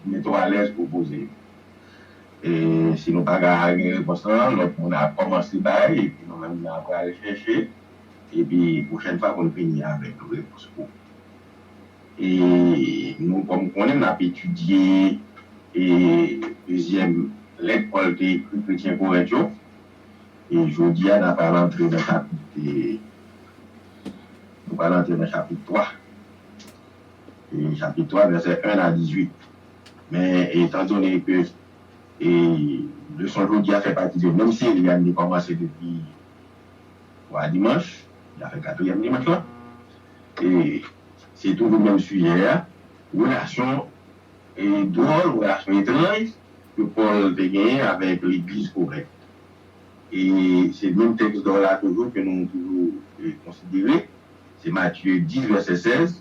Mete w alèz pou w poze yo. E si nou pa ka gen repons lan, lòt moun a kòmanse bay epi nou menm na pral chèche epi pwochèn fwa pou n vini avèk yon repons pou ou. E nou kòm konnen n ap etidye e dezyèm lèt Pòl te ekri kretyen Korent yo e jodi a n ap pral antre nan chapit nou pral antre nan chapit 3. Esayi chapit 3 vèsè 1 a 18 Men, etandone ke leson jodi a fè pati de menm seri a n te kòmanse depi twa dimanch, n ap fè katriyèm dimanch lan, e se toujou menm sijè a, relasyon dwòl, relasyon etranj ke Pòl te genyen avèk legliz Korent. E se menm tèks dò la toujou ke nou toujou konsidere, se Matye 10 vèsè 16.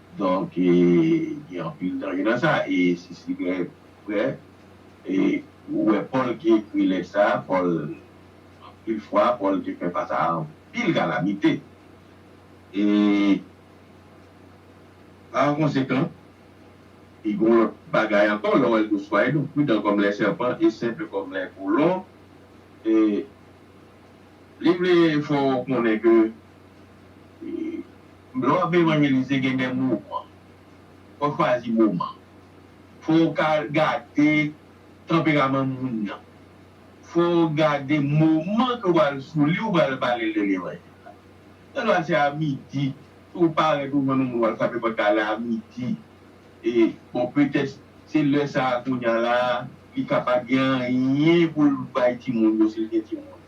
Donk gen anpil danje nan sa. E si sigarèt vrè, e ou wè Pòl ki ekri lèt sa a, Pòl, anpil fwa, Pòl te fè fas a anpil kalamite. E pa konsekan, e gen yon lòt bagay ankò, lè w wè l tou, Soyez donc prudents comme les serpents et simples comme les colons. E li vle fè w konnen ke Lè w ap evanjelize gen de moman. Fò w chwazi moman. Fò w ka gade tanperaman moun nan. Fò w gade moman ke w pral sou li ou pral pale de levanjil la. Gen dwa se a midi. Si w parèt ou jwenn yon moun w al frape pòt la lè a midi. E bon petèt se lè sa a kounya la a li ka pa gen anyen pou l bay timoun yo si l gen timoun.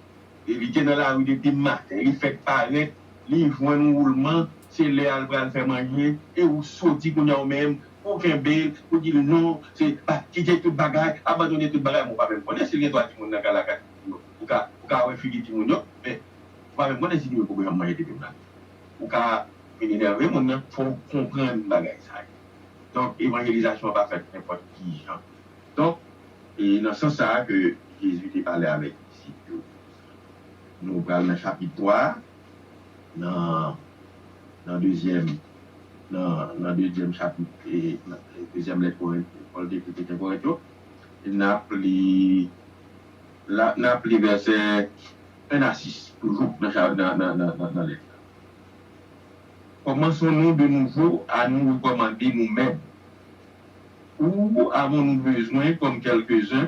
E li te nan lari depi maten. Li fèk parèt li jwenn ou ou lman se lè al pral fè manje e ou soti kounya ou menm pou kenbel pou dil non se pa kite tout bagay abandone tout bagay men ou pa menm konnen sil gen 3 timoun nan kay la 4 timoun yo ou ka ou ka wè figi timoun yo men ou pa menm konnen si timoun poko janm manje depiw nan kay ou ka vini nève moun nan fòw konprann bagay sa yo donk evanjelizasyon an pa fèt nenpòt kijan donk e nan sans sa ke Jezi te pale avèk disip yo. Nou pral nan chapit 3 a, nan, nan dezyèm, nan, nan dezyèm chapit, e, nan dezyèm lèt Korent, Pòl te ekri kretyen Korent yo. E n ap li, la, n ap li vèsè 1 a 6, toujou nan cha, nan, nan, nan, nan, nan lèt la. Kòmanson nou de nouvo a nou rekòmande nou menm? Ou avon nou bezwen kòm kèlkezen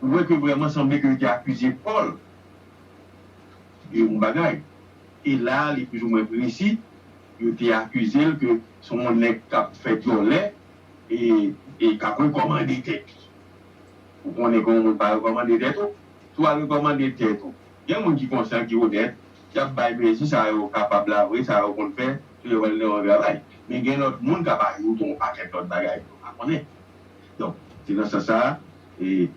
Ou wè ke vrèman sanble ke yo te akize Pòl de yon bagay. E la a li plis-ou-mwen presi, yo te akize l ke se yon nèg k ap fè dyòlè e k ap rekòmande tèt li. Ou konnen ke yon moun pa rekòmande tèt ou. Si w al rekòmande tèt ou, gen moun ki konsyan, ki onèt, y ap bay mezi sa yo kapab la vre, sa yo konn fè, si yo wè l nan yon travay. Men gen lòt moun k ap ajoute yon pakèt lòt bagay ke w pa konnen. Donk, se nan sans sa a, e,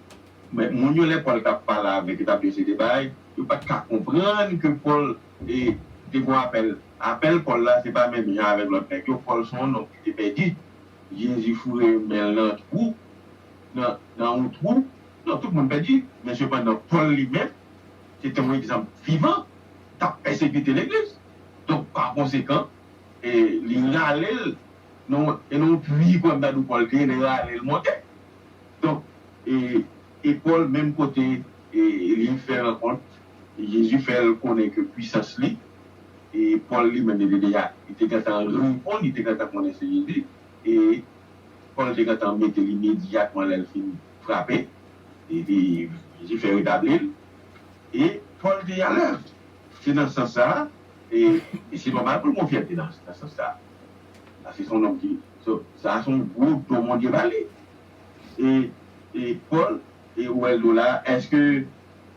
men, moun yo, lè Pòl t ap pale avèk yo, t ap di yo se de bagay, yo pa t ka konprann ke Pòl, e, te fè yon apèl. Apèl Pòl la, se pa menm jan avèk lòt nèg yo. Pòl se yon nonm ki te pèdi. Jezi foure men l nan twou, nan, nan yon twou. Donk, tout moun pèdi. Men sepandan, Pòl li menm, se te yon egzanp vivan. T ap pèsekite legliz. Donk, pa konsekan, e, li rale l Non, e non pwi pou Abnadou Pòl te ye lè yo ale l monte. Donk, e, e Pòl menm kote, e, li fè rankont, e Jezi fè l konnen ke pwisans li, e Pòl li menm li te deja, li te gentan reponn, li te gentan konnen se Jezi, e Pòl te gentan mete l imedyatman lè l fin frape, e li, Jezi fè retabli l, e Pòl te alèz. Se nan sans sa a, e, e se nòmal pou l gon fyète nan, nan sans sa a. Sa se son nonm ki so sa a son gwo do Bondye ba li e e Paul e ou wè l do la a èske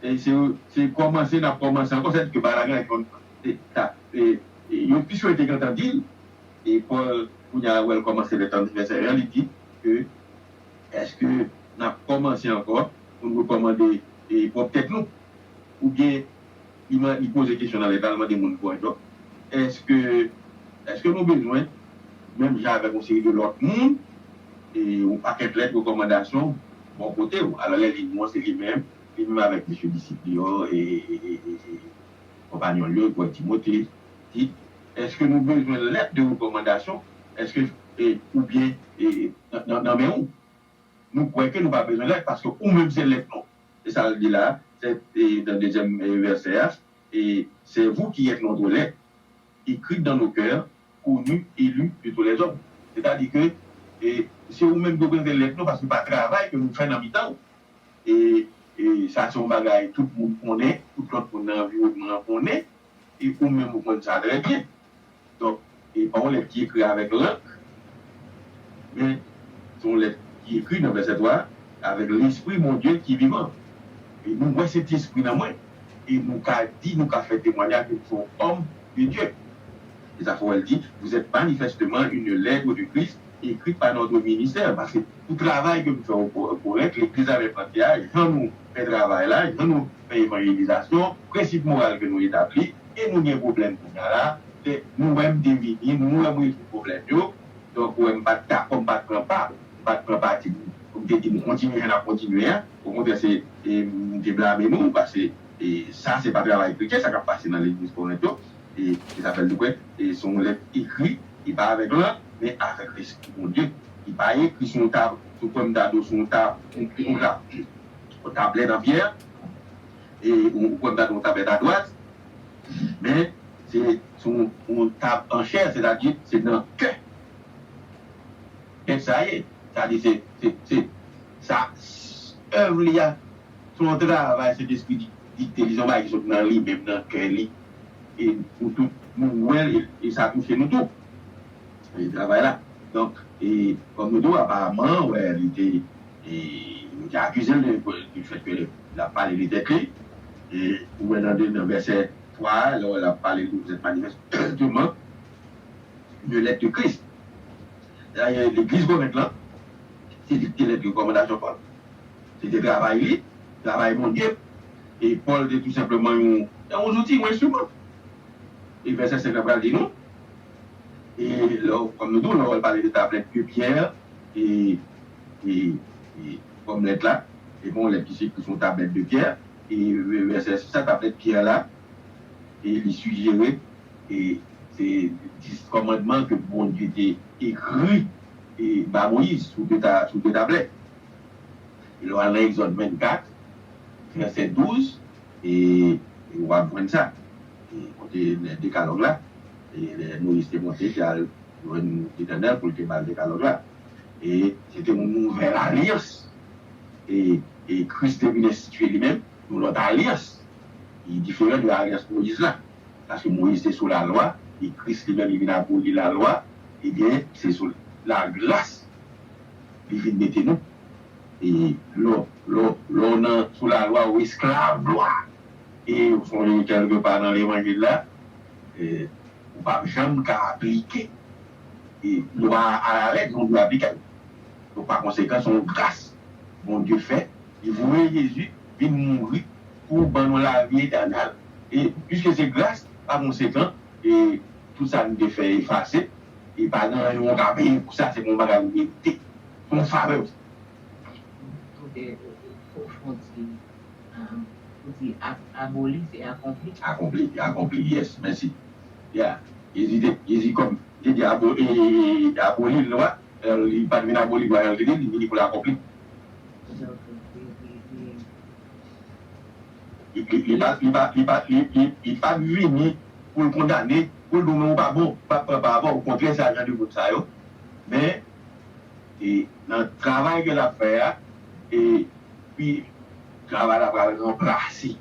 e se yo se kòmanse n ap kòmanse ankò sè di ke bagay la konn e ta e e yo pi swete gentan di l e Paul kounye a wè l kòmanse vè tande vèsè 1 li di ke èske n ap kòmanse ankò pou n rekòmande e pwòp tèt nou oubyen Li man li poze kesyon nan lèt la, li mande moun pou Antioch, eske eske nou bezwen menm jan avèk yon seri de lòt moun e yon pakèt lèt rekòmandasyon bò kote ou? Alò lè li non se li menm, li menm avèk mesye disip li yo e konpagnon l yo, Paul Timothée, Tite, eske nou bezwen lèt de rekòmandasyon eske e oubyen e nan nan men ou? Nou kwè ke nou pa bezwen lèt paske ou menm se lèt nou. Se sa l di la, se nan dezyèm vèsè a, C'est vous qui êtes notre lait, écrite dans nos cœurs, connue et lue de tous les hommes. Sètadi ke se ou menm ki reprezante lèt nou paske pa travay ke nou fè nan mitan ou. E sa se yon bagay tout moun konnen, tout lòt moun nan anviwònman an konnen e ou menm ou konn sa trè byen. Donk, li pa yon lèt ki ekri avèk lank, men, se yon lèt ki ekri nan vèsè 3 a avèk Lespri Bondye ki vivan. E nou wè Sentespri nan mwen, e nou ka di, nou ka fè temwanyaj ke m se yon òm de Dye. E sa fè wè l di, Vous êtes manifestement une lètre de Christ écrite par notre ministère. Paske, pou travay ke m fè o Korent, legliz la menm antye a, jan nou fè travay la, jan nou fè evanjelizasyon, prensip moral ke nou etabli, e nou gen pwoblèm kounya la e nou wè m te vini nou wè m rezoud pwoblèm yo donk ou wè m pa t ka kòm m pa t pran pa m pa t pran pati pou m te di nou kontinye jan n ap kontinye a okontrè se m te blame nou paske e sa se pa travay kretyen sa k ap pase nan legliz Korent yo e se sa fè l te kwè e se yon lèt ekri e pa avèk lang men avèk Lespri Bondye e pa ekri sou yon tab sou kwè m ta di w sou yon tab yon tablèt an fyè. E ou kwè m ta di yon tapèt adwat, men se sou yon tab an chè, sètadi se nan kè pèp sa ye. Sa vle di se, se sa èv li a, se yon travay Sentespri dikte li, se yon bagay ki sot nan li menm, nan kè li. E nou tout nou wè l e sa touche nou tou, travay la. Donk, e kòm nou tou aparamman wè li te. E nou te akize l de du fait que l ap pale de tèt li. E ou wè nan nan vèsè 3 a, lè ou wè l ap pale de vous êtes manifestement de lèt de Christ. Dayè legliz Korent lan, se li ki te lèt rekòmandasyon Pòl. Se te travay li, travay Bondye. E Pòl te tou senpleman yon yon zouti, yon enstriman. E vèsè 5 lan pral di nou, e lè ou kòm nou di w lè ou wè l pale de tablèt de Pierre e e kòm lèt la, e gon lèt ki se ekri sou yon tablèt de pyè, e vèsè 6 la, tablèt pyè la, e li sijere, e se 10 kòmandman ke Bondye te ekri e ba Moyiz sou 2 ta, sou 2 tablèt. E lè w al nan Egzòd 24, vèsè 12, e w ap jwenn sa, e kote lè dekalòg la, e lè Moyiz te monte, te al jwenn Letènèl pou l te ba l dekalòg la, e se te yon nouvèl alyans, e, e Kris te vin enstitye li menm yon lòt alyans ki diferan de alyans Moyiz la, paske Moyiz te sou lalwa, e Kris li menm li vin aboli lalwa, ebyen se sou lagras li vin mete nou, e lè w, lè w nan sou lalwa ou esklav lwa, e ou sonje kèlke pa nan levanjil la, e ou pap janm ka aplike. E lwa a alarèg nou dwe aplike l. Donk pa konsekan se yon gras Bondye fè, li voye Jezi vin mouri pou ban nou lavi etènèl. E piske se gras, pa konsekan e tout sa nou te fè efase e pa gen anyen ou ka peye pou sa, se pa yon bagay ou merite, se yon favè ou se. Doktè Profond di, ou di aboli se akonpli? Akonpli, akonpli, yes, mèsi. Yeah Jezi te Jezi kòm te di abo e aboli lwa el li pat vin aboli lwa el te di li vini pou l akonpli. Li pa li pa li pa li pa vini pou l kondane pou l di w men ou pa bon pa pran pa avè w okontrè se a jan de moun sa yo men e nan travay ke l ap fè a e pi travay la pral ranplase.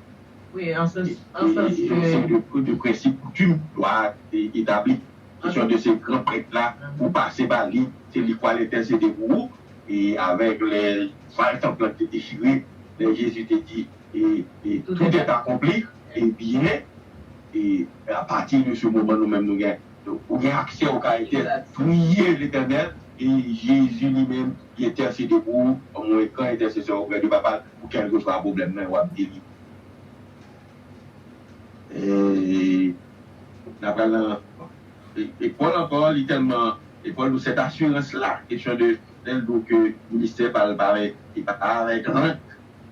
Wi, an sans, an sans ke. Yon seri de pri, de prensip, koutim, lwa a te etabli. Kesyon de se gran prèt la, pou w pase ba li, se li k pral entèsede pou ou. E avèk lè vwal tanp lan te dechire, lè Jezi te di, e, e, tout est accompli, ebyen, e, a pati de se moman nou menm nou gen, ou gen aksè ou ka entè, priye Letènèl, e Jezi li menm li entèsede pou ou, anmwekan entèsesè oprè de Papa l. Pou kèlkeswa pwoblèm nan wap geri. Eeeii na pral nan Ecole ankò li tèlman Ecole nou cette assurance là question de lèl di w ke ministère pa l pa avèk se pa avèk rank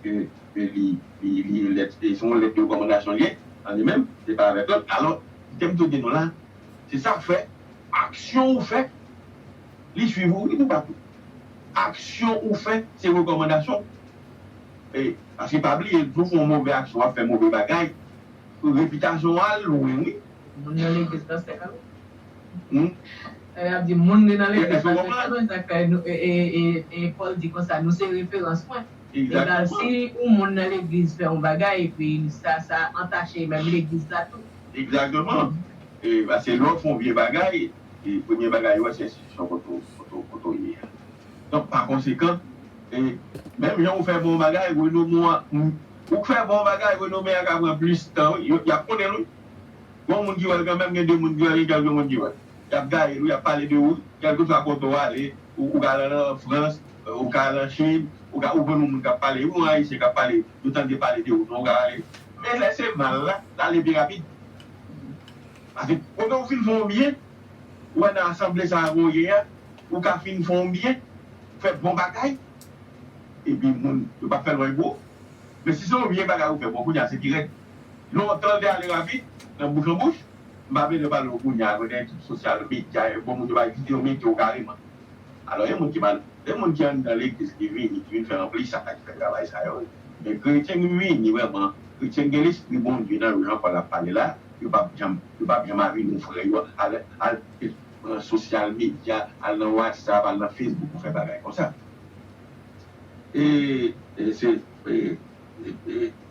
ke ke li li lèt se yon lèt de rekòmandasyon l ye an li menm se pa avèk rank alò kitem toujou di nou la se sa w fè aksyon w fè Li swiv ou wi toupatou. Aksyon ou fè se rekòmandasyon e paske pa bliye lè ou fè yon move aksyon wap fè move bagay repitasyon ou al lwen wi. Moun nan legliz pastè kal wè. Humm. Epi yap di moun li nan legliz pastè kal wè se sak fè nou e Paul di konsa nou se referans mwen. Egal si yon moun nan legliz fè yon bagay epi sa sa antache menm legliz la tou. Egzakteman e paske lè ou fè yon vye bagay. e premye bagay yo wè se enstitisyon kote w ye a. Donk pa konsekan, e menm jan ou fè bon bagay, renome a, ou k fè bon bagay, renome a ka pran plis tan wi, y ap konnen l wi. Gon moun ki wè l kanmèm, gen 2 moun ki wè l, gen kèlke moun ki wè l. Y ap gaye l wi, y ap pale de ou wi. Kèlkeswa kote w ale, ou ka al an Frans, ou ka al an Chin, ou ka, ou konn yon moun k ap pale wi, yon Ayisyen k ap pale, yo tande pale de ou non, ou ka ale. Men lè se mal la, l ale pi rapid. Pase kote ou fin fè yon byen, ou wè nan asanble sa a ke w ye a, ou ka fin fè yon byen, fè bon bagay, epi moun yo pa fè lwen pou ou. Men si se yon vye bagay ou fè, bon kounye a se pi rèd. Lontan l te ale rapid, nan bouch an bouch, m pa bezwen pale w kounye a, kote tout sosyal medya yo, bon moun yo bay vide yo mete yo kareman. Alò gen moun ki mal, gen moun ki anndan legliz ki vini, ki vin fè anplis sa a, ki fè travay sa yo wi. Men kretyen ki vini vrèman, kretyen ki gen lespri Bondye nan yo, jan Pòl ap pale la, Yo pap janm yo pap janm avi nou frè yo al al pran sosyal medya al nan watsap al nan fesbouk pou fè bagay konsa ee se ee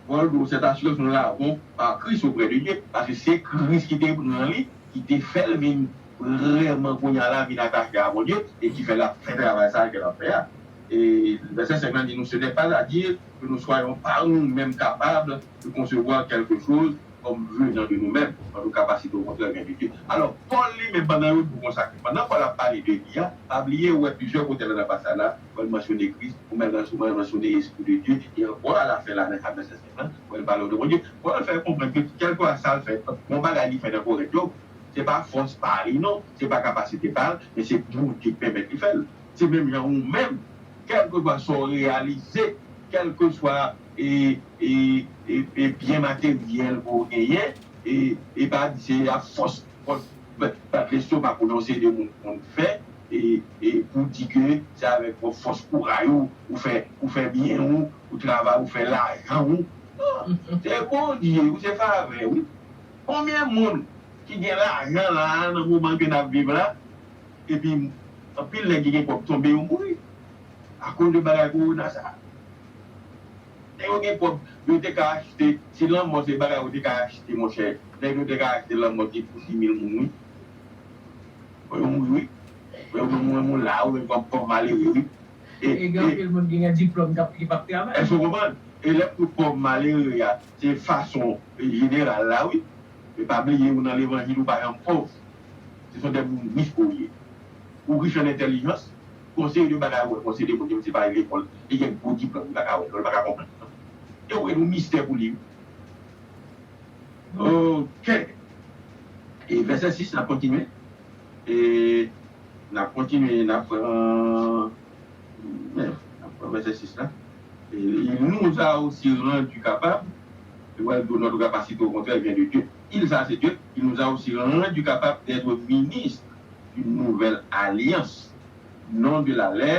Paul di w sèt asirans nou lavon pa Kris oprè de Dye paske se Kris ki te pran li ki te fè l vin vrèman kounya la vin atache a Bondye e ki fè l ap fè travay sa a ke l ap fè a e vèsè 5 lan di nou se nè pas a dire ke nou swayon pa nou menm kapab de konsevwa kèlke choz kòm vye jan de nou menm, antouka pa site okontrè gen pipit. Alò, Pòl li menm pandan yo di w konsa ke pandan Pòl ap pale de li a, pa bliye ou wè plizyè kote la nan pasaj la, Pòl mansyone Kris, ou menm la souvan mansyone Espri de Dye, e ankò a lafen la nan ka vèsè 5 lan, wè l pale w de Bondye. Pòl fè konprann ke kèlkeswa sa l fè, bon bagay li fè nan Korent yo, se pa fòs pa li non, se pa kapasite pa l, men se Bondye ki pèmèt li fè l. Se menm jan ou menm, kèlkeswa sa w reyalize, kèlkeswa. e byen materyèl ke w genyen, e pa di se a fòs kont bat lestomak ou nan yon seri de moun konn fè, e pou w di ke se avèk pwòp fòs kouray ou, ou fè byen ou, ou travay, ou fè lajan ou. Non! Se Bondye wi, se favè wi. Konbyen moun ki gen lajan la a nan moman ke n ap viv la, epi anpil nèg ki gen pwòp tonbe yo mouri akoz de bagay kowona sa a? Lè yo gen kob yo te ka achte si lanmò se bagay ou te ka achte monchè nèg yo te ka achte lanmò ti pou simil moun wi fò yo mouri wi fò yo mouri moun la a wi kòm pòv malere wi e e gen anpil moun ki gen diplòm kap ki pap travay. Èske ou konprann e lèm di w pòv malere a se fason jeneral la wi e pa bliye ou nan levanjil ou pa janm pòv se son de moun rich ke ou ye ou rich an entèlijans Yon seri de bagay ou wè, yon seri de moun ke misye pa ale lekòl, li gen gwo diplòm li pa ka wè non, li pa ka konprann non. Yo wè yon mistè pou li wi. Ok. E vèsè 6 la kontinye, e n'ap kontinye, n'ap pran, men, n'ap pran vèsè 6 la, e il nous a aussi rendu capable, li pral di ou notre capacité au contraire vient de Dieu. Il sa a se Dye, il nous a aussi rendu capable d'être ministre. Une nouvelle alliance, non de la lè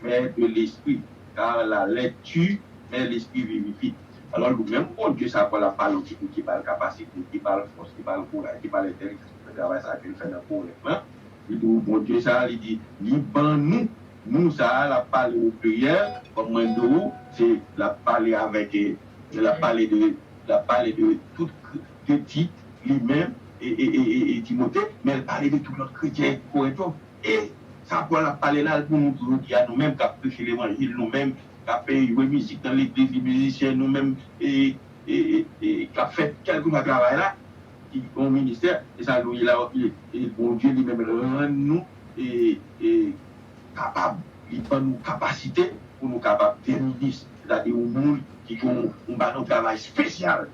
mè de lespri, car la lè tu mè lespri vivifi. Alò nou menm Bondye sa kwa lap pale w ki pou ki bal kapasite, ki bal fòs, ki bal kouraj, ki bal entèlijans pou fè travay sa ke l fè nan Korent lan, li di w Bondye sa li di li ban nou, nou sa lap pale w o pliryèl, kòm mwen di w se lap pale avèk, lap pale de, lap pale de tout. de Tit, li menm, e Timote, men l pale de tout lòt kretyen Korent yo. E sa Pòl ap pale la l pou nou tou jodi a, nou menm k ap preche levanjil, nou menm k ap jwe mizik nan legliz, li mizisyen, nou menm k ap fè kèlkeswa travay la, ki yon ministè, e sa nou ye la a, e Bondye li menm rann nou kapab, li ban nou kapasite pou nou kapab gen minis, sètadi yon moun ki gen yon, yon ba nou travay spesyal.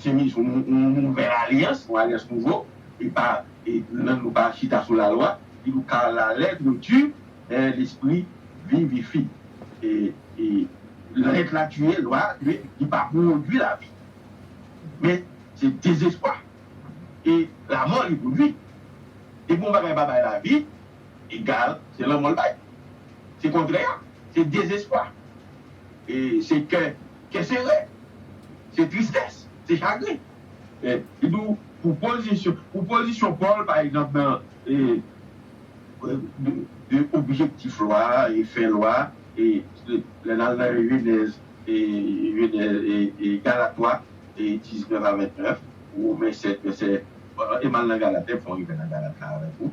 Se mis yon nouvèl alyans, yon alyans nouvo, e pa lang nou pa chita sou lalwa, ki dou car la lettre tue, mais l'esprit vivifie. E lèt la tiye lwa, men li pa pwodui lavi. Men se dezespwa e lamò li pwodui. Depi yon bagay pa bay lavi, egal se lanmò l bay. Se kontrè a, se dezespwa, se kè kè sere, se tristès, se chagren. Li di w pou pozisyon, pou pozisyon Pòl pa egzanp nan de objektif lwa, fen lwa, lè n al nan Jenèz, Gala 3, 19 a 29, Women 7 vèsè, e m al nan Galatè m fè yon rive nan Galat la avèk ou.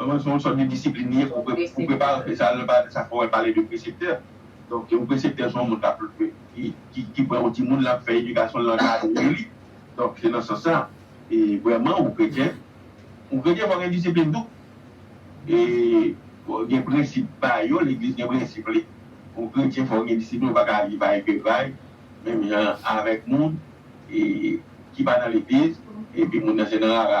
Manman se yon sòt de disiplin li ye pou prepare yon feyton lè pale de sa fò wè l pale de preseptè donk yon preseptè se yon moun kap ki pran yon timoun lap fè edikasyon l lap ankadre li donk se nan sans sa e vrèman yon kretyen yon kretyen fò gen disiplin tou e fò gen prensip pa yo legliz gen prensip li yon kretyen fò gen disiplin ou pa ka aji vay ke vay menm jan avèk moun e ki pa nan legliz epi moun nan se nan rara.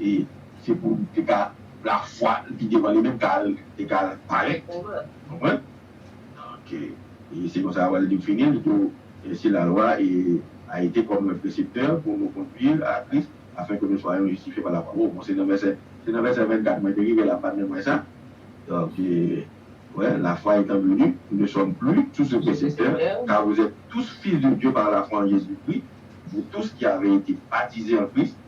e se pou li te ka lafwa li ki devan li menm ka al te ka al parèt ou konprann ok e se konsa wal di fini li tou e si lalwa e a ete kòm un précepteur pour nous conduire à Christ afin que nous soyons justifiés par la foi oh bon se nan vèsè se nan vèsè 24 mwen te rive la mpa t menm wè sa donk e wè la foi etant venu nous ne sommes plus sous ce précepteur car vous êtes tous fils de Dieu par la foi en Jésus Christ vous tous qui avez été baptisés en Christ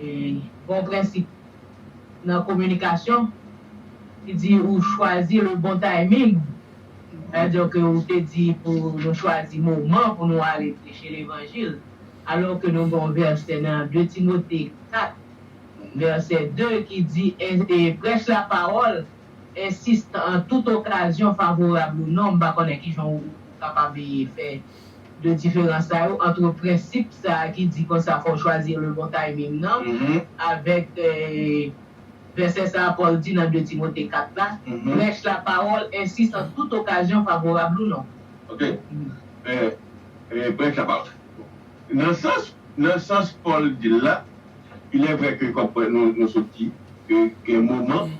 E gon prensip nan kominikasyon ki di ou chwazi le bon timing, sa dire ke ou te di pou nou chwazi moman pou nou ale preche levanjil, alò ke nou gen yon vèsè nan 2 Timote 4 vèsè 2 ki di e prèch la pawòl, ensiste an tout okazyon favorab ou non, m pa konnen kijan ou kapab fè. de diferans sa yo antre prensip sa a ki di konsa fò w chwazi le bon timing nan avèk vèsè sa a Pòl di nan 2 Timote 4 la, Prèch la pawòl, ensis an tout okazyon favorab ou non. Ok. Prèch la pawòl. Nan sans, nan sans Pòl di l la, ilèvrè ke kòm nou sot di, ke gen moman,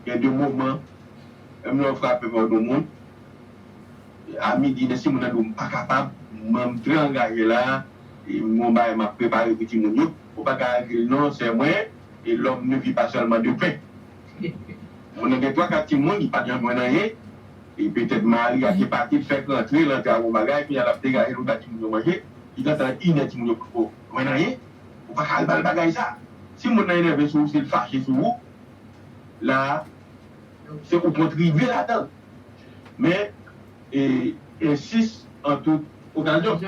gen de moman, menm lè w frape pa w di yon moun, A midi mesi moun andew mpa kapab m'en m trè angaje la e m gon bagay map prepare pou timoun yo ou paka agril non sè mwen e lòm ne vi pa sèlman de pen moun nan gen 3 4 timoun li pa jan jwenn anyen e petèt mari a te pati l fèk rantre l antre ak on bagay kounya lap degaje l vin ba timoun yo manje li gentan inè timoun yo poko jwenn anyen ou paka al bal bagay sa si moun nan enève sou ou si l fache sou ou la se ou kontribye ladan. men e ensis an tout okazyon.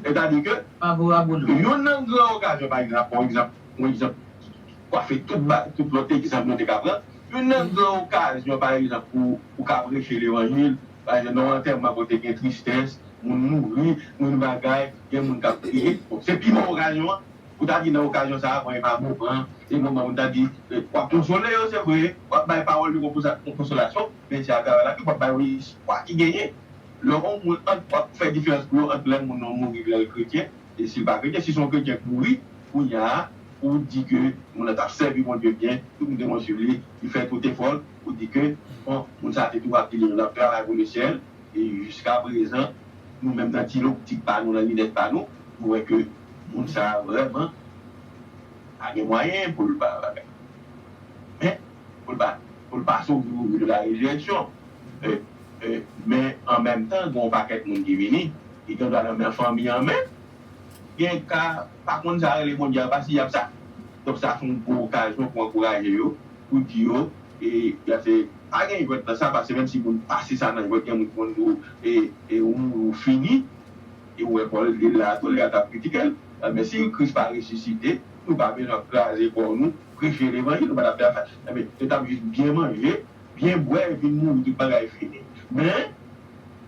Sètadi ke youn nan gran okazyon, pa egzanp, yon egzanp, yon egzanp ki kwafe tout ba, tout lòt egzanp nou te ka pran, youn nan gran okazyon, pa egzanp, pou ou ka preche levanjil, pa egzanp, nan yon antèman kote gen tristès, moun mouri, moun bagay, gen moun k ap kriye, bon, se pi bon okazyon an pou ta di nan okazyon sa a, bon, e pa moman an, se moman pou ta di, w ap konsole yo, se vre, w ap bay pawòl de konsolasyon, medya ap travay la, yo pap bay yon espwa ki genyen lè yon moun ant pap fè diferans pou yo ant lè moun nan mouri lè l kretyen e si l pa kretyen. Si se yon kretyen k mouri kounya a pou w di ke moun nan t ap sèvi Bondye byen, tout moun te konn suiv li, li fè tout efò l pou di ke bon moun sa a te tou ap di li menm l ap travay pou Lesye l e jiskaprezan nou menm nan ti loptik pa nou, nan linèt pa nou, nou wè ke moun sa a vrèman pa gen mwayen pou l pa bagay. Men. Pou l pa soufri pou vil la redireksyon. Men an menm tan gen yon pakèt moun ki vini, ki gen dwa lanmen fanmi an men, gen ka pa konn sa rele Bondye apa si y ap sa. Donk sa se yon gwo okazyon pou ankouraje yo, pou di yo, pa gen jwèt nan sa paske menm si moun pase sa nan jwèt gen moun ki konn di w ou mouri ou fini. E ou wè Pòl li la a tou, li a t ap kritike l. Men si Kris pa resisite, nou pa bezwen ap kraze kò nou preche levanjil ou pa tap fè afè anbyen yo tap jis byen manje byen bwè epi mouri tout bagay fini men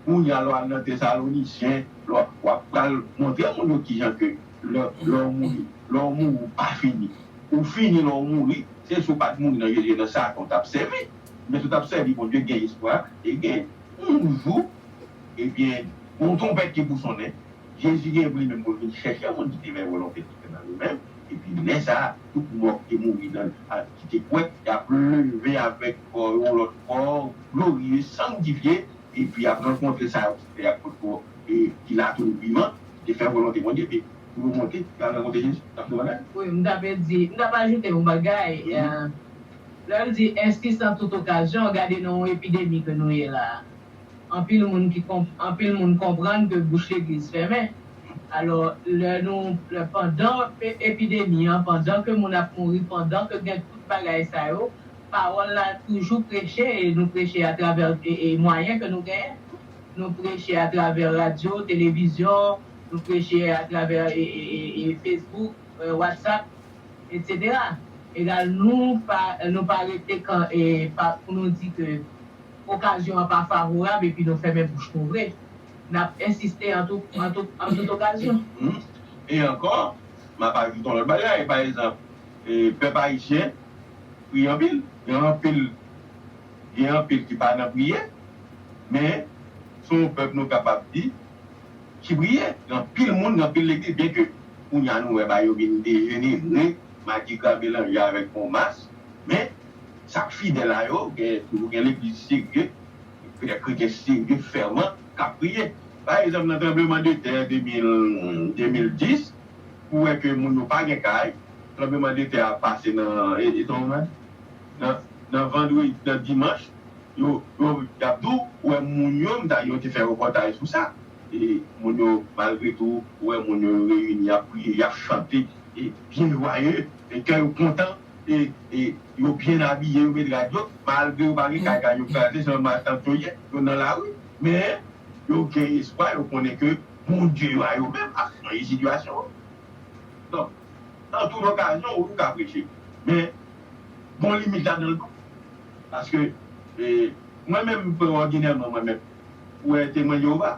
kounya lè w al nan tesalonicien lè wap pral montre moun yo kijan ke lè lè w mouri lè w mouri ou pa fini ou fini lè w mouri se si w pat mouri nan jezi nan satan w tap sèvi men si w tap sèvi bondye gen espwa e gen yon jou ebyen gon twonpèt ki pou sonnen Jezi gen pou li menm pou l vin chèche yon moun ki te fè volonte Bondye nan li menm, epi lè sa a, tout mò ki te mouri nan l ak ki te kwè, y ap leve avèk kò yo yon lòt kò gloriye, sangtifye, epi y ap rankontre sa yo ki te fè ak lòt kò e ki la toujou vivan, ki te fè volonte Bondye, epi pou yo monte pou y al rankontre Jezi. N ap konprann la? Wi, m ta pe di, m ta pe ajoute yon bagay, lè l di ensi san tout okazyon, gade nan yon epidemi ke nou ye la a. Anpil moun ki anpil moun konprann ke bouch legliz fèmen alò lè nou lè pandan epidemi an pandan ke moun ap mouri pandan ke gen tout bagay sa yo pawòl la toujou preche e nou preche atravè e mwayen ke nou genyen nou preche atravè radyo televizyon nou preche atravè e fesbouk watsap etc egal nou pa nou pa rete kan e pa pou nou di ke. okazyon an pa favorab epi nou fèmen bouch nou vre. N ap ensiste an tout okazyon. E ankò, m ap ajoute yon lòt bagay. Pa egzanp, pèp ayisyen priye anpil. Gen anpil gen anpil ki pa nan priye, men se yon pèp nou kapab di ki priye. Gen anpil moun, gen anpil legliz, byenke kounye a nou wè ba yo vin dejenere, madigra melanje avèk bon mas, men, Sa k fidèl a yo, gen toujou gen legliz serye, vrè kretyen serye, fèman, k ap priye. Pa egzanp, nan tranbleman de tè 2011, 2010, ou wè ke moun yo pa gen kay, tranbleman de tè a pase nan, e sa w wè? nan, nan vandredi, nan dimanch, yo, yo, y ap di w, ou wè moun yo, m ta di yo te fè repòtaj sou sa, e moun yo, malgre tou, ou wè moun yo, yo reyini, y ap priye, y ap chante, e byen jwayeu, e kè yo kontan. e yo byen abiye, yo met rad yo, malgre yo pa gen kay, kay yo kraze, jan maltant yo ye, yo nan lari, men, yo gen espwa, yo konnen ke Bondye yo a yo menm ap chanje sitiyasyon an. Donk, nan tout okazyon, wi, ou ka preche, men, gon limit ladan l tou, paske, e, mwen menm, frè, òdinèman, mwen menm, wè Temwen Jewova.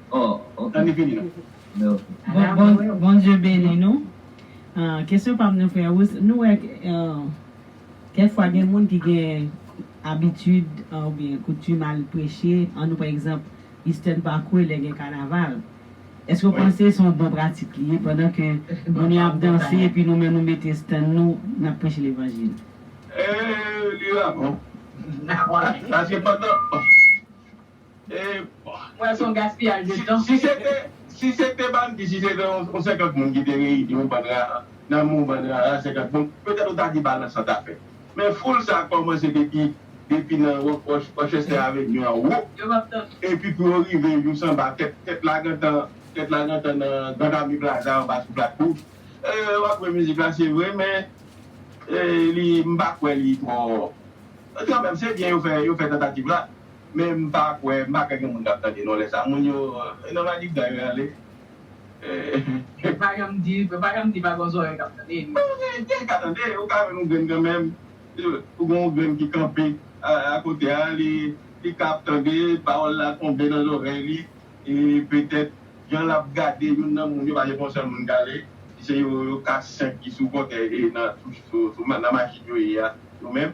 Bondye beni nou Kesyon pam nan frè Ruth nou wè kèk fwa gen moun ki gen abitid oubyen koutim al preche an nou pa egzanp Eastern Parkway lè gen kanaval èske ou panse son bon pratik li ye pandan ke moun yo ap danse epi nou menm nou mete stand nou nap preche levanjil? Eee li la bon paske pandan. Epa! Mwen wè son gaspiyaj de tan. Si se te si se te bann di si se te yon 50 moun ki te reyini yon bann rara nan men yon bann rara 50 moun petèt ou ta di balans lan ta fè men foul sa kòmanse depi depi nan Rock Roch Rochester Avenue an wo Yo pap tann ou. epi pou yo rive jous anba tèt tèt la gentan tèt la gentan nan Grand Ami Plaza anba sou Plat Rouj ee wap jwe mizik la se vre men ee li m pa kwè li twò kanmèm se byen yo fè yo fè tantativ la. Men m pa kwè, m pa kwè gen moun kap tande non lè sa moun yo nan madigra yo ale eh. Yo pa janm di, yo pa janm di pa gon zòrèy kap tande anyway. Bon gen, gen ka tande, ou ka jwenn yon grenn kanmenm, ou gen yon grenn ki kanpe a kote a li li ka ap tande, pawòl la tonbe nan zòrèy li e petèt jan lap gade youn nan moun yo pa se pou yon sèl moun kale, se yo yo 4, 5 ki sou kòtèy e nan touch sou nan machin yo ye a yo menm.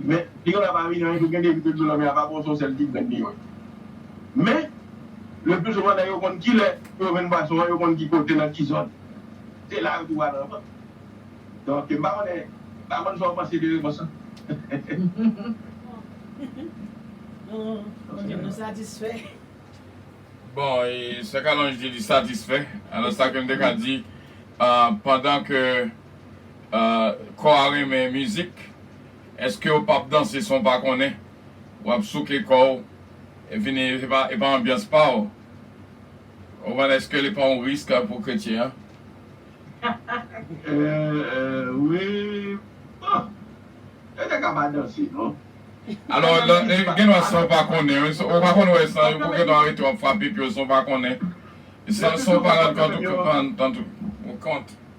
Men, piyon la pa vini anyen tou gende epi dlo lanmè a pa bon son sèl ki grenn piyon. Men, le pli souvan nèg yo konn ki lè pou yo venn pwason an, yo konn ki kote nan ki zòn. Se la yo tou pral ranvant. Donk, m pa konnen, m pa konn sa w panse de repons lan. Bon, nou satisfè. Bon, e sè Kalonj di li satisfè. Alò sa ke m te ka di, pandan ke Kò a renmen mizik eskew pap danse san w pa konnen wap souke kò w vini e pa anbyans pa w konprann eske li pa yon risk pou kretyen an. Wi bon yo te ka pa danse non. Alò gen dwa san w pa konnen wi ou pa konn wè san yo pou kèt w arete w ap frape pye w san w pa konnen san w pa rann kont ou kont.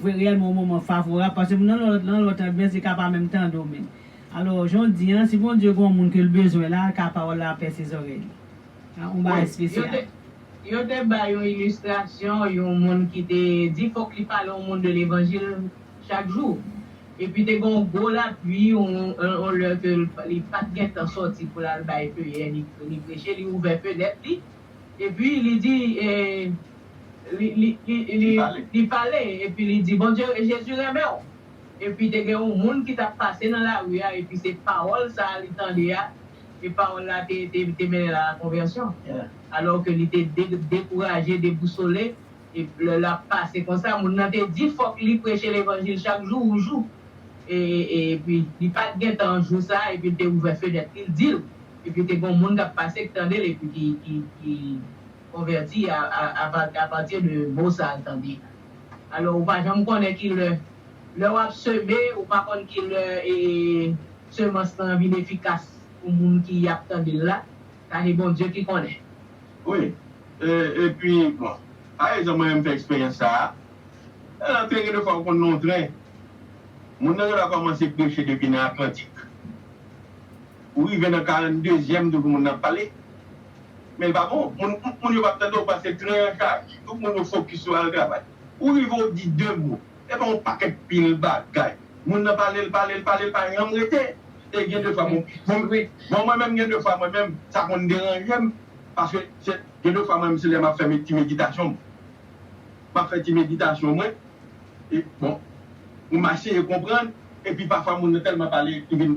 Vwe reyèlman yon moman favorab paske moun nan lòt nan lòt anbyans li ka pa menm tande w menm. Alò, jan w di an, si Bondye gen yon moun ke l bezwen la, l ka pawòl la pèse zòrèy li. A, yon bagay espesyal. Yo te bay yon ilistrasyon yon moun ki te di fòk li pale yon moun de levanjil chak jou. Epi te gen yon gwo lapui, yon lè ke li pa t gentan sòti pou l al bay peyè ni preche, li ouvè fenèt li, Epi, li di, e, li, li, li, li, li pale, epi li di, Bondye, Jezi renmen ou. Epi te gen yon moun ki t ap pase nan lari a, epi se pawòl sa a li tande a, e pawòl la te, te, te mennen l a la konvèsyon. Alò ke li te de, dekouraje, debousole, e lè l ap pase konsa, moun nan te di fòk li preche levanjil chak jou ou jou. E, e, e, epi li pa t gen tan jou sa a, epi l te ouvè fenèt li, l di l, Epi te gon moun kap pase k tandel epi ki ki konvèti a partir de mo sal tande a. Alò ou pa janm konnen kilè lè wap seme ou pa konn kilè semans lan vin efikas pou moun ki ap tandel la, sa se Bondye ki konnen. Wi epi bon pa egzanp mwen menm m fè eksperyans sa a nan antre gen de fwa ou konn nan yon tren moun nan gen dwa kòmanse preche depi nan atlantik Ou rive nan 42 zyèm tout moun ap pale men l pa bon moun yo pap tande w pase tren an chaje tout moun yo fokis sou al travay ou rive w di 2 mo e pa yon pakèt pil bagay moun nan pale l pale l pale l pa janm rete e gen de fwa bon mwen menm gen de fwa mwen menm sa konn deranje m paske se gen de fwa mwen menm se lè m ap fè ti meditasyon m m ap fè ti meditasyon mwen e bon m ap eseye konprann epi pafwa moun nan tèlman pale li vin.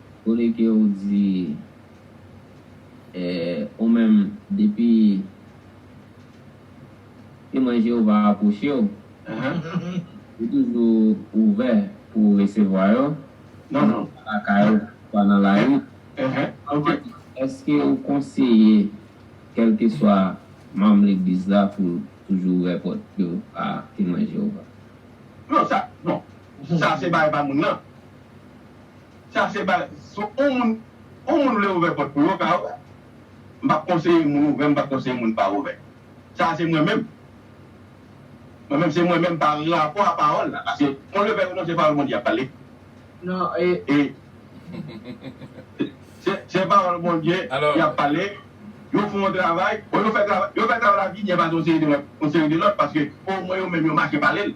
Kote ke ou di eh ou menm depi Temwen Jewova apwoche w, ou toujou ouvè pou w resevwa yo, oswa lakay ou oswa nan lari? Èske ou konseye kèlkeswa manm Legliz la pou toujou ouvè pòt yo a Temwen Jewova? Non, sa se bagay pa moun nan. Sa se ba si on moun on moun vle ouvè pòt pou yo ka ouvè m pap konseye moun ouvè m pap konseye moun pa ouvè sa se mwen menm mwen menm se mwen menm pa rapò a pawòl la paske on levè yo non se pawòl Bondye yap pale non e se pawòl Bondye yap pale yo fè on travay bon yo fè travay yo fè travay la vini epa se on seri de lòt on seri de lòt paske o mwen yo menm yo mache pale l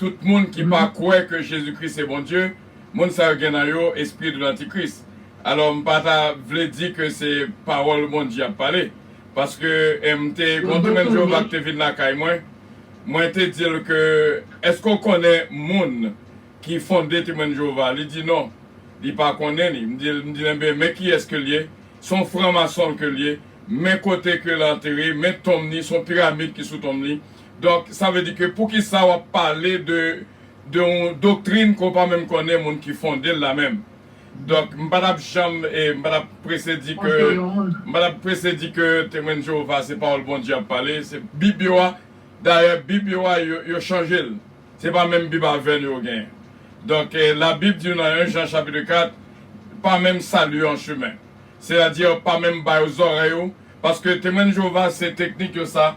Tout moun ki pa kwè ke Jezi Kris se Bondye, moun sa yo gen nan yo espri de l'antikris. Alò m pa ta vle di ke se pawòl Bondye ap pale. Paske m te gon Doumèn Jewova ki te vin lakay mwen, mwen te di l ke, Èske w konnen moun ki fonde Temwen de Jewova? Li di, Non, li pa konnen li. M di l, M di l, Enben, men kiyès ke l ye, se yon franmason ke l ye, men kote ke l antere, men tonm li, se yon piramid ki sou tonm li. Donk sa vle di ke poukisa wap pale de de yon doktrin ke w pa menm konnen moun ki fonde l la menm. Donk m pa t ap janm e m pa t ap prese di ke m pa t ap prese di ke Temwen Jewova se pawòl Bondye y ap pale, se Bib yo a. Dayè Bib yo a yo yo chanje l. Se pa menm Bib avè nou yo genyen. Donk Labib di nou nan 1 Jan chapitre 4, Pa menm sali yo an chemen. Sètadi pa menm ba yo zòrèy ou paske Temwen Jewova se teknik yo sa.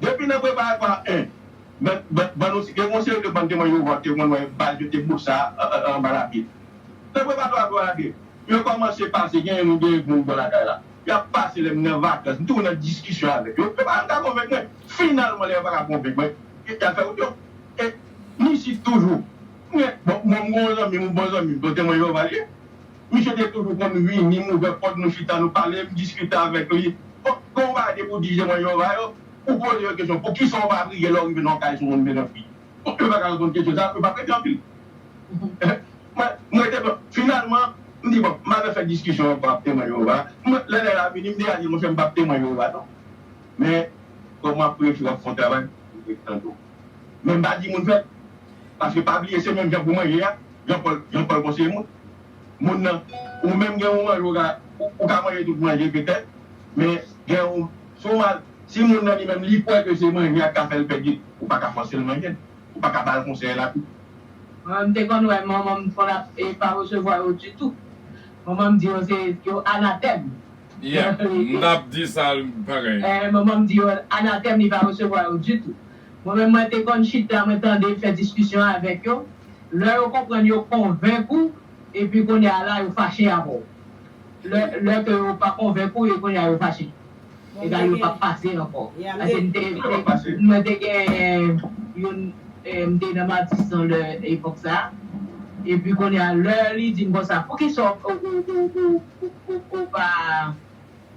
Depi nan preparatwa 1, nan ban nou gen yon seri de ban Temwen Jewova ou te konn wè baz yo te bout sa a anba lapye. Nan preparatwa 3 a, 2, yo kòmanse pase genyen nou genyen pou nou bò lakay la. Y ap pase lè m nan vakans, m toujou nan diskisyon avèk yo, yo pa janm ka konvenk mwen. Finalman, lè yo pa ka konvenk mwen, y al fè wout yo. E m isit toujou. M gen, bon, m gen yon zanmi m, yon bon zanmi m, se yon Temwen Jewova li ye. Misye te toujou konn vini, m ouvè pòt, nou chita, nou pale, m diskite avèk li. Bon, lè w va debou di je mwen yo va yo, ou poze yo kesyon, poukisa w pa briye lè w rive nan yon kay sou moun menaj li? Bon, yo pa ka reponn kesyon sa a, yo pa prete anpil. Mwen, m rete blan. Finalman, m di bon, m pa vle fè diskisyon ankò ak Temwen Jewova. Mwen, lè nèg la vini, m deja di l, monchè, m pap Temwen Jewova non. Men, kòm w ap preche, w ap fè yon travay, m vle tande w. men m pa di moun fèt paske pa bliye se menm jan pou manje a Jean Paul Jean Paul bon se moun moun nan ou menm gen yon manje ou ka ou ka manje tout manje petèt men gen yon si w mal si moun nan li menm li kwè ke se manje a k ka fè l pèdi l ou pa ka fòse l manje l ou pa ka ba l konsèy la tou. Mwen m te konn wè manman m fò l ap e pa resevwa yo ditou manman m di yo se yo anatèm Yeah mtap di sal pa gen. Eh manman m di yo anatèm li pa resevwa yo ditou mwen menm mwen te konn chita mwen tande fè diskisyon avèk yo lè yo konprann yo konvenk ou epi kounye a la yo fache avè w lè lè ke yo pa konvenk ou e kounye a yo fache egal yo pap pase ankò paske m te mwen te gen youn m te nan matisan lè epòk sa epi kounye a lè li di m konsa poukisa ou ou ou Ou pa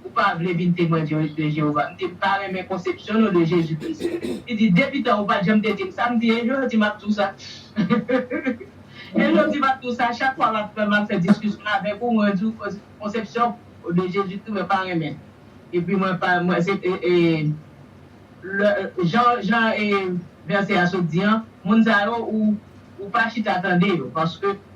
Ou pa vle vin Temwen de Jewova? M di, M pa renmen konsepsyon nou de Jezi Kris. Li di, Depitan ou pa t janm te di m sa. M di, E jodi m ap di w sa. E jodi m ap di w sa. Chak fwa m ap m ap fè diskisyon avèk ou, mwen di w konsepsyon ou de Jezi Kris mwen pa renmen l. Epi mwen pa mwen se e lè jan jan e vèsè a sot di an, moun sa yo ou ou pa chita tande yo paske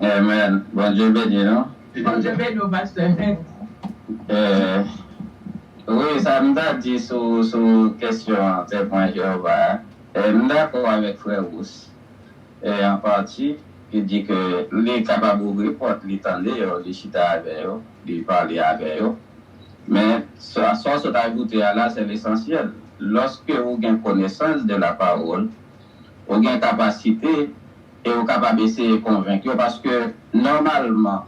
Amen Bondye beni nou. Bondye beni w pastè Hent. Eeh wi sa m ta di sou sou kesyon temwen Jehovah a e m dakò avèk frè Rousse e an pati ki di ke li kapab ouvri pòt li tande yo li chita avè yo li pale avè yo men sa w sot ajoute a la se lesansyèl loske ou gen konesans de la parole ou gen kapasite e ou kapab eseye konvenk yo paske nòmalman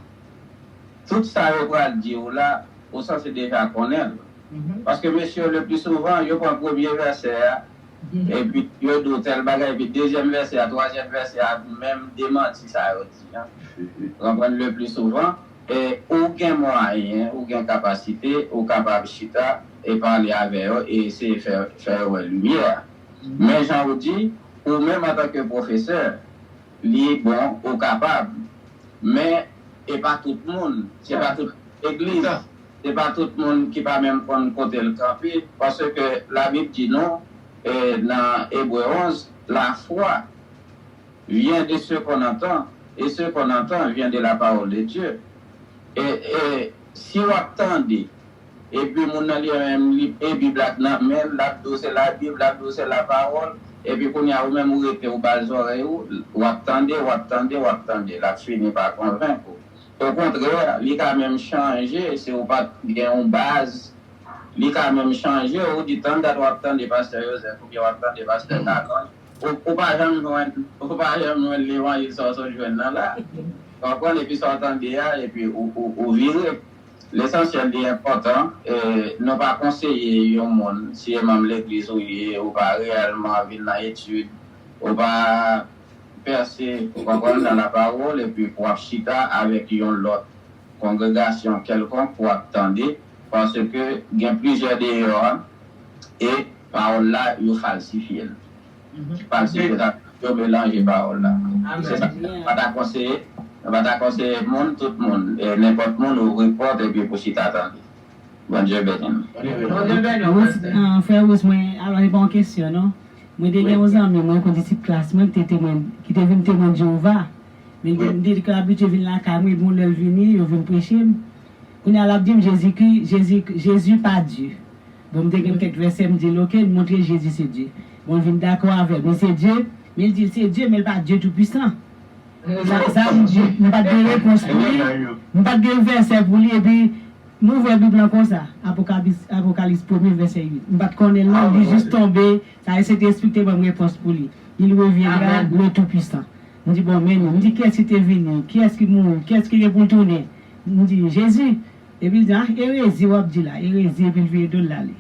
tout sa yo pral di ou la ou sanse deja konnen l paske mesye yo leplisouvan yo pran premye vèsè a epi yo di ou tèl bagay epi dezyèm vèsè a twazyèm vèsè a menm demanti sa yo di an ou konprann leplisouvan e ou gen mwayen ou gen kapasite ou kapab chita e pale avè yo e eseye fè yo wè limyè a. Men jan ou di, ou menm antanke pwofesè, li bon ou kapab. Men e pa tout moun, se pa tout legliz, se pa tout moun ki pa menm konn kote l kanpe. Paske Labib di nou nan Ebre 11, Lafwa vyen de se kon antan, e se kon antan vyen de la pawòl de Dye. Si wap tande epi moun nan li menm li e bib la t nan menl lap diw se la bib lap diw se la parol epi kounya ou menm ou rete ou bal zorey ou wap tande wap tande wap tande lap fini pa konvenk ou okontrè li ka menm chanje si ou pat gen yon baz li ka menm chanje ou di tandat wap tande pastè Joseph oubyen wap tande pastè Carlin. Ou pa janm jwenn ou pa janm jwenn levanjil sa ou sot jwenn nan la. Wap pran epi sa ou tande a epi ou vire. Lesansyèl li enpòtan nou pa konseye yon moun si e manm legliz ou ye ou pa reyèlman vin nan etid ou pa pèse ou konprann nan lapawòl epi pou wap chita avèk yon lòt kongregasyon kèlkonk pou wap tande paske gen plizyè deyò a e Pawòl la, yo falsifye l. Falsifye yo ta vle di yo melanje pawòl la. Se sa k fè nou pa ta konseye, nou pa ta konseye moun, tout moun, nenpòt moun ouvri pòt epi pou chita tande. Bondye beni nou. Bondye beni w pastè. Frè Rous mwen alò se pa yon kesyon non. Mwen te gen yon zanmi mwen kon disip klas mwen ki te temwen ki te vin temwen Jewova. Men li te toujou abitye vin lakay mwen epi yon lè l vini yo vin preche m. Kounye a l ap di m Jezikri Jezi Jezi pa Dye. Bon m te gen kèk vèsè m dil ok m montre Jezi se Dye bon l vin dakò avèm li se Dye men l dil se Dye men l pa Dye tou pwisan sa sa m di m pat gen repons pou li m pat gen vèsè pou li epi m ouvè bib lan konsa apokabis apokalis premye vèsè 8 m pat konnen l non li jis tonbe sa e sentespri k te banm repons pou li il reviendra le tout puissant m di bon men m di kiyès ki te vini kiyès ki mouri kiyès ki gen pou l tounen m di Jezi. Epi l di, ah erezi w ap di la, erezi epi l vire do l l ale.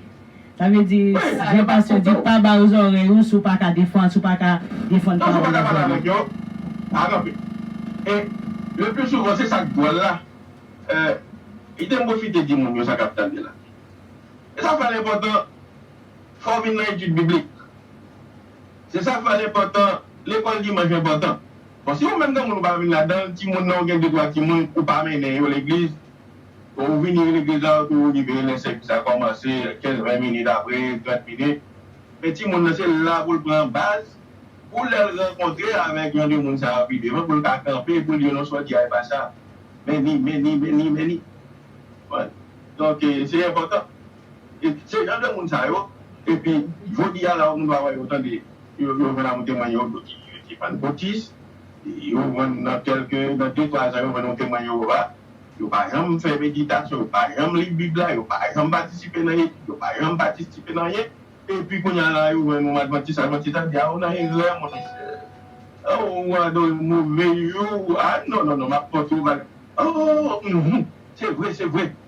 Sa vle di, jan pastè di, pa ba yo zòrèy ou si w pa ka defann, si w pa ka defann pawòl yo ba ou yo. Pa kanpe. E leplisouvan se sa k dwòl la, kite m pwofite di moun yo sa k ap tande la. E sa fè l enpòtan fò w vin nan etid biblik. Se sa k fè l enpòtan, lekòl dimanch enpòtan. Bon, si ou menm granmoun ou pa vin ladan l, timoun nan ou gen de twa timoun ou pa mennen yo legliz, ou vini nan legliz la, ou toujou rive lè sèvis la kòmanse, kenz, ven minit apre, trant minit. Men timoun nan se la pou l pran baz pou lè l rankontre avèk jan de moun sa yo pi devan pou l ka kanpe pou l di yo non sa w di a e pa sa. Meni, meni, meni, meni. Donk, se enpòtan. E se jan de moun sa yo epi jodi a la ou moun va wè yo tande yo jwenn a ou temwen yo di yo se fann Otis yo jwenn nan kelke nan de twa zan yo jwenn yon temwen Jewova yo pa janm fè meditasyon yo pa janm li bib la yo pa janm patisipe nan etid yo pa janm patisipe nan anyen epi kounye a la yo jwenn yon advantis advantis la di a ou nan erè mon chè ou adore move yo a non non non m ap kont ou o se vre se vre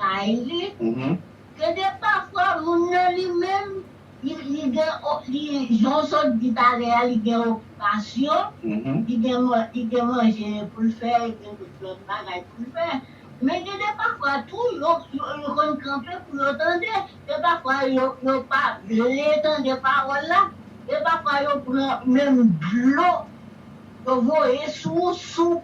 Kay li, ke de pafwa moun nan li menm li gen li jan w sot di talè a li gen okipasyon, li gen li gen manje pou l fè, li gen tout lòt bagay pou l fè. Men gen de pafwa tou yo yo konn kanpe pou yo tande E pafwa yo yo pa vle tande pawòl la, e pafwa yo pran menm dlo yo voye sou ou sou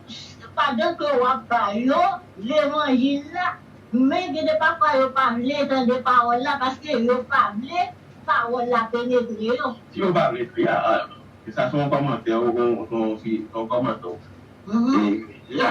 pandan ke wap ba yo levanjil la, men gen de pafwa yo pa vle tande pawòl la paske yo pa vle pawòl la penetre yo. Si yo pa vle pri a alman. E sa se yon kòmantè ou, se yon kòmantè ou fè. E la,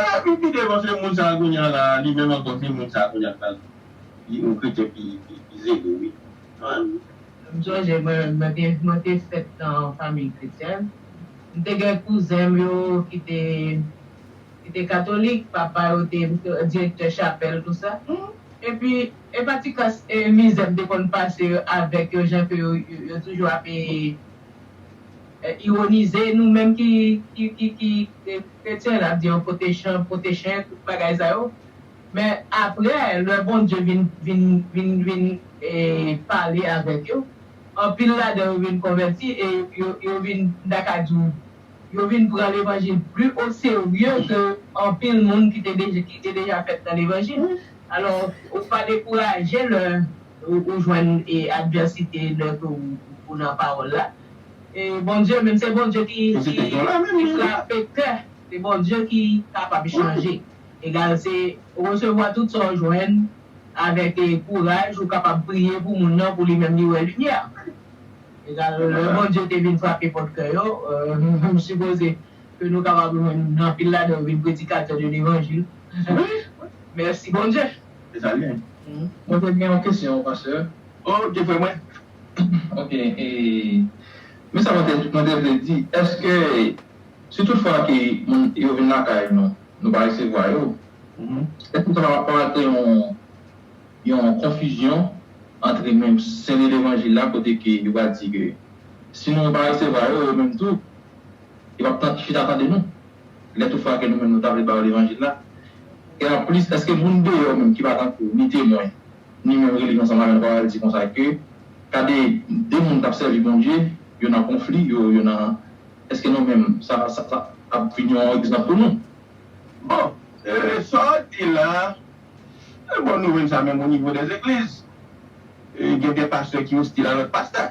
Eeh m pi devan se moun sa kounya la li menm ankò se moun sa kounya k pral di yon kretyen pi zele wi humm. M sonje mwen te fèt nan yon fanmiy kretyèn, m te gen kouzen m yo ki te katolik, papa yo te direktè chapèl tou sa, epi e pa ti kas e mizè m te konn pase avèk yo jan ke yo toujou ape. Ironize nou menm ki kretyen nap di yo potechen potechen tout bagay sa yo men aprè lè Bondye vin pale avèk yo anpil ladan yo vin konvèti e yo vin m ta ka di w yo vin pran levanjil pli oserye ke anpil moun ki te deja fèt nan levanjil alò ou pa dekouraje lè ou jwenn advèsite lè ke ou nan pawòl la. E Bondye menm se Bondye ki ki frape kè e Bondye ki kapab chanje egal se resevwa tout sa ou jwenn avèk e kouraj ou kapab priye pou moun nan pou li menm li wè limyè egal lè Bondye te vin frape pòt kè yo m sipoze ke nou kapab jwenn anpil ladan yo vin predikatè de levanjil mèsi Bondye. Se sa li ye. Mwen te gen yon kesyon pasteur. Ok frè mwen. Ok men sa mwen te vle di eske si tout fwa ke moun yo vin lakay nou nou pa resevwa yo eske sa pa pral kreye yon konfizyon antre menm sen de levanjil la kote ke yo pral di ke si nou pa resevwa yo yo menm tou yo pap chita tande nou lè tout fwa ke nou menm nou ta vle ba yo levanjil la e anplis eske moun deyò menm ki pa tankou ni temwen. ni menm rele yo ansanm avè n pa w al di konsa ke gade de moun k ap sèvi Bondye yo nan konfli yo yo nan èske nou menm sa sa ap vin yon egzanp pou nou? Bon, e sa w di la e bon nouvèl sa menm onivo dè zegliz gen de pastè ki ostil a lòt pastè.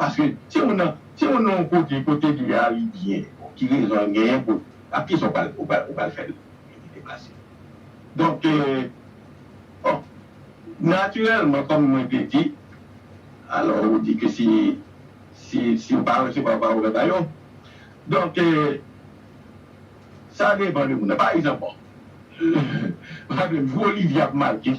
Paske si ou nan si ou nan yon kote kote dlo a ale byen bon ki rezon an genyen pou ak kisa ou pral ou pral ou pral fè l li deplase. Donk bon natirèlman kòm mwen te di alò ou di ke si si si ou pa resevwa pa ouvè ba yo donk sa depan de moun nan pa egzanp bon ou ta di m jou Olivye ap make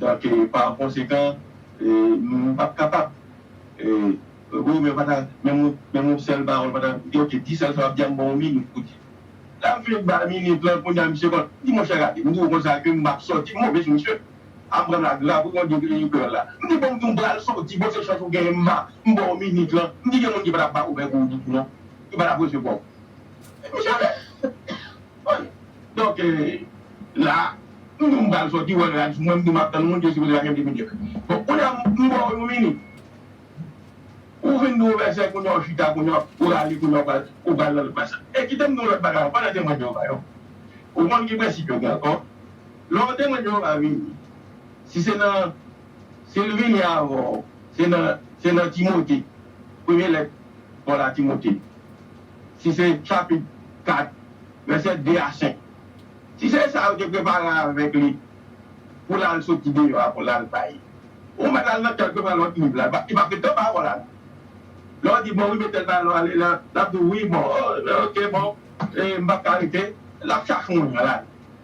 Donk par konsekan nou pap kapab wi men pata menm yon sèl pawòl pata ok di sèl sa wap di a m ban w minit pou di lap vle ba minit lan kounye a misye konn di monchè gade m di w konsa ke m pap sòti m monte sou misye a m pran la grave wi bon di yon kreyòl la m di bon m di w m pral sòti bon se chans ou genyen m ba m ba w minit lan m di gen moun ki patap ba w vè pou w di non ki patap resevwa w misye ale. Wi. Donk la a, m di w m pral sòti, wè rad sou mwen, m di w m ap tann moun ki sipoze lakay m depi demè. Bon, kounye a, m ba w yon minit. Ou vin di w vèsè, kounye a ou chita, kounye a ou rale, kounye a ou pral nan lòt baz la. E kite m di w lòt bagay ankò lè Temwen Jewova yo. Ou konn ki prensip yo gen ankò? Lè yon Temwen Jewova vini, si se nan, si l vini avan w, se nan, se nan Timote, premye lèt Pòl a Timote, si se chapit 4, vèsè 2 a 5. Si se sa yo te prepare avèk li pou l al soti deyò a pou l al bay, ou mèt al nan kay l pou l pran lòt liv la, li pap gen tan pawòl a nou. Lè w di, Bon wi, mete l nan lwa li, l ap di w, Wi, bon, ok, bon, m pap ka rete. L ap chache moun nan lari.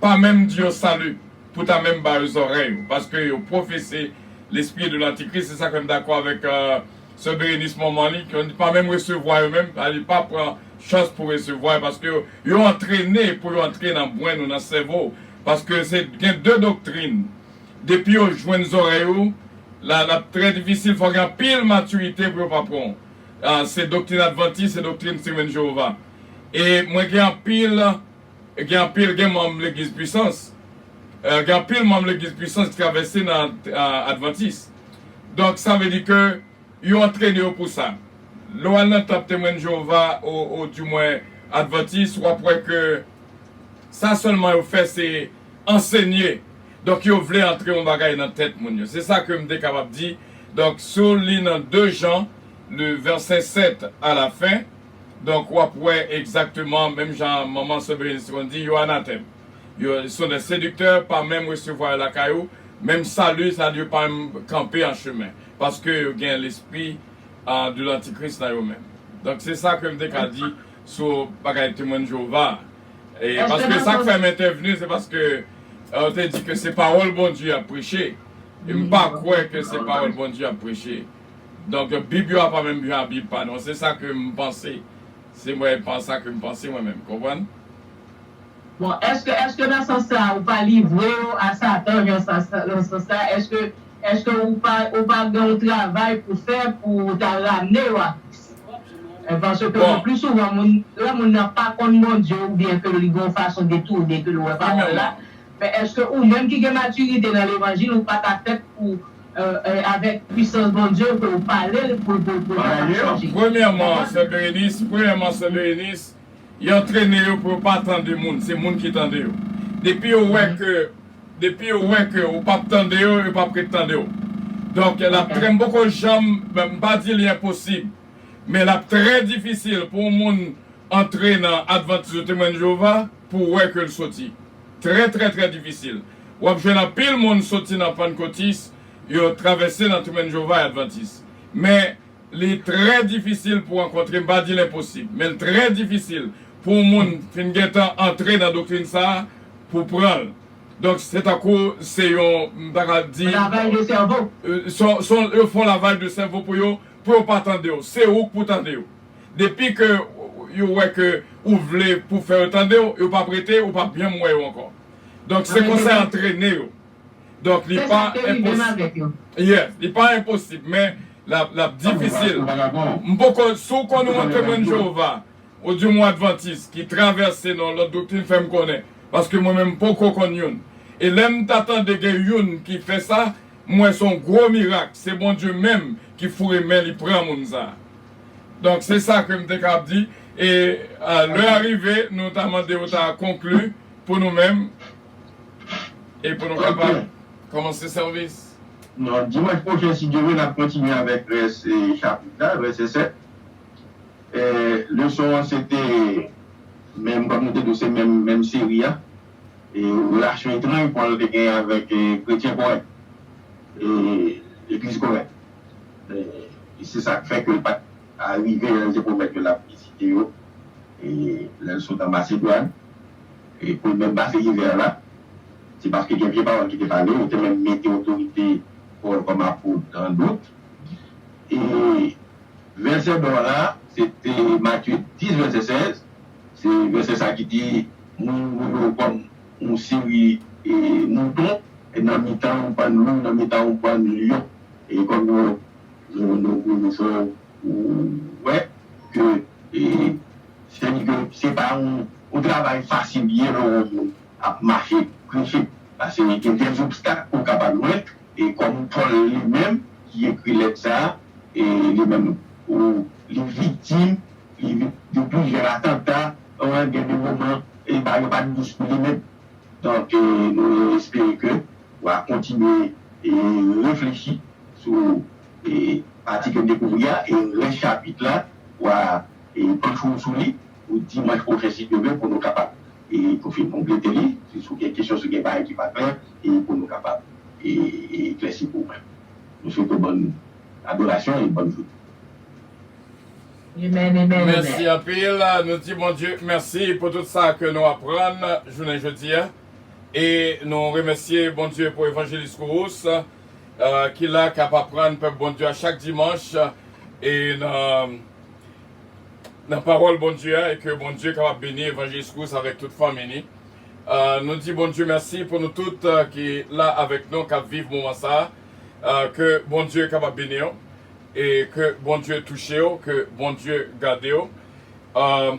pa menm di yo salut pou ta menm ba yo zòrèy ou paske yo profese l'esprit de l'antichrist se sak fèm dakò avèk sè Berenice manman li ki pa menm resevwa yo menm sa vle di pa pran chans pou resevwa yo paske yo antrene pou yo antre nan brenn ou nan sèvo ou paske se gen de doktrin depi yo jwenn zòrèy ou la lap trè difisil fò gen anpil matirite pou yo pa pran ou se doktrin advantis se doktrin Steven Jehovah e mwen gen anpil. Gen anpil gen manm legliz pwisans gen anpil manm legliz pwisans ki travèse nan advantis donk sa vle di ke yo antrene yo pou sa lè w al nan tanp temwen de Jewova ou di mwen advantis w ap wè ke sa sèlman yo fè se ansenye donk yo vle antre yon bagay nan tèt moun yo se sa ke m te kapab di donk si w li nan 2 Jan le vèsè 7 a la fen. Donk wap wè egzakteman menm jan manman Sobeline te konn di yo anatèm. Yo sont des séducteurs pa menm resevwa yo lakay ou, menm salut sa yo pa menm kanpe an chemen paske yo gen lespri de l'antichrist nan yo menm. Donk se sa ke m te ka di sou bagay Temwen de Jewova a. E paske sa k fè m entèvni se paske ou te di ke se pawòl Bondye y ap preche e m pa kwè ke se pawòl Bondye y ap preche. Donk bib yo a pa menm jan a bib pa nou an se sa ke m panse se mwen pa sa ke m panse mwen menm konprann. Bon eske eske nan sans sa ou pa livre yo a satan jan sa nan sans sa eske eske ou pa ou pa gen yon travay pou fè pou ou ta ramne yo a kris e paske Bon. le plus souvent moun lè moun nan pa konn Bondye ou byen ke li gen yon fason detourne ke l wè Wi men pawòl la mwen. men eske ou menm ki gen maturite nan levanjil ou pa ta fèt pou E avèk pwisans Bondye ke ou pale l pou pou pou yo pa chanje. Premyèman sè Bérénice, premyèman sè Bérénice, yo antrene yo pou yo pa tande moun, se moun ki tande yo. Depi yo wè ke, depi yo wè ke ou pap tande yo, yo pap ret tande w. Donk l ap trè, m poko janm, m pa di li enposib, men l ap trè difisil pou yon moun antre nan Advantis ou Temwen de Jewova. Pou w wè ke l soti. Trè trè trè difisil. W ap jwenn anpil moun soti nan pannkotis yo travèse nan Trimen Jewova e Advantis. Men, li trè difisil pou w rankontre, m pa di l enposib, men l trè difisil pou yon moun fin gentan antre nan doktrin sa a pou pran l. Donk, se tankou se yon, m ta ka di. Lavay de sèvo. S on, yo fè yon lavaj de sèvo pou yo, pou yo pa tande w. Se ou k pou tande yo. Depi ke yo wè ke ou vle pou fè yo tande w, yo pap rete, ou pap janm wè yo ankò. Donk se konsa antrene yo. Donk li pa enposib. Yes, li pa enposib men lap difisil. M poko, si w konnen yon Temwen Jewova odyomwen Advantis ki travèse nan yon lòt doktrin fè m konnen. Paske mwen menm m poko konn youn. E lè m ta tande gen youn ki fè sa, m wè se yon gwo mirak, se Bondye menm ki foure men li pran moun sa. Donk se sa ke m te kab di. E lè a rive nou ta mande ou ta konkli pou nou menm e pou nou kapab kòmanse sèvis. Nan dimanch pwochen si Dye vle n ap kontinye avèk rès chapit la, vèsè 7. Leson an se te menm kòm nou te di w se menm menm seri a. Relasyon etranj Pòl te genyen avèk kretyen Korent, legliz Korent. E se sa k fè ke l pa t arive lè l te pwomèt yo l ap vizite yo lè l sot an Masedwàn e pou l menm pase ivè la. Se paske gen vye pawòl ki te pale, yo te menm mete otorite Pòl kòm apot an dout. E vèsè ba w la a, se te Matye 10 vèsè 16, se vèsè sa a ki di, Moun yo wè w kòm. yon seri mouton nan mitan yon bann lou, nan mitan yon bann lyon. E kòm nou konnen sa ou wè ke se di ke se pa yon travay fasil li ye lè yon moun ap mache preche pase gen dè obstak ke w ka pa jwenn e kòm Pòl li menm ki ekri lèt sa a li menm li viktim Gen plizyè atanta an gen de moman e bagay yo pat dous pou li menm. Donk nou espere ke ou a kontinye reflechi sou pati ke dekouvri a e rès chapit la ou a panche w sou li pou dimanch pwochen si Dye ve pou nou kapab pou fin konplete li si sou gen kesyon si gen bagay ki pa klè e pou nou kapab eklèsi pou mwen. Nou swete w bòn adorasyon e bòn joune. Amen amen amen. Mèsi anpil, nou di Bondye mèsi pou tout sa ke nou aprann jounen jodi a, e nou remèsye Bondye pou Evanjelis Kourous ki la kap aprann pèp Bondye a chak dimanch e nan pawòl Bondye a, e ke Bondye kapab beni Evanjelis Kourous avèk tout fanmi ni. Nou di Bondye mèsi pou nou tout ki la avèk nou kap viv moman sa, ke Bondye kapab beniw. E ke Bondye touchew ke Bondye gadew ahh.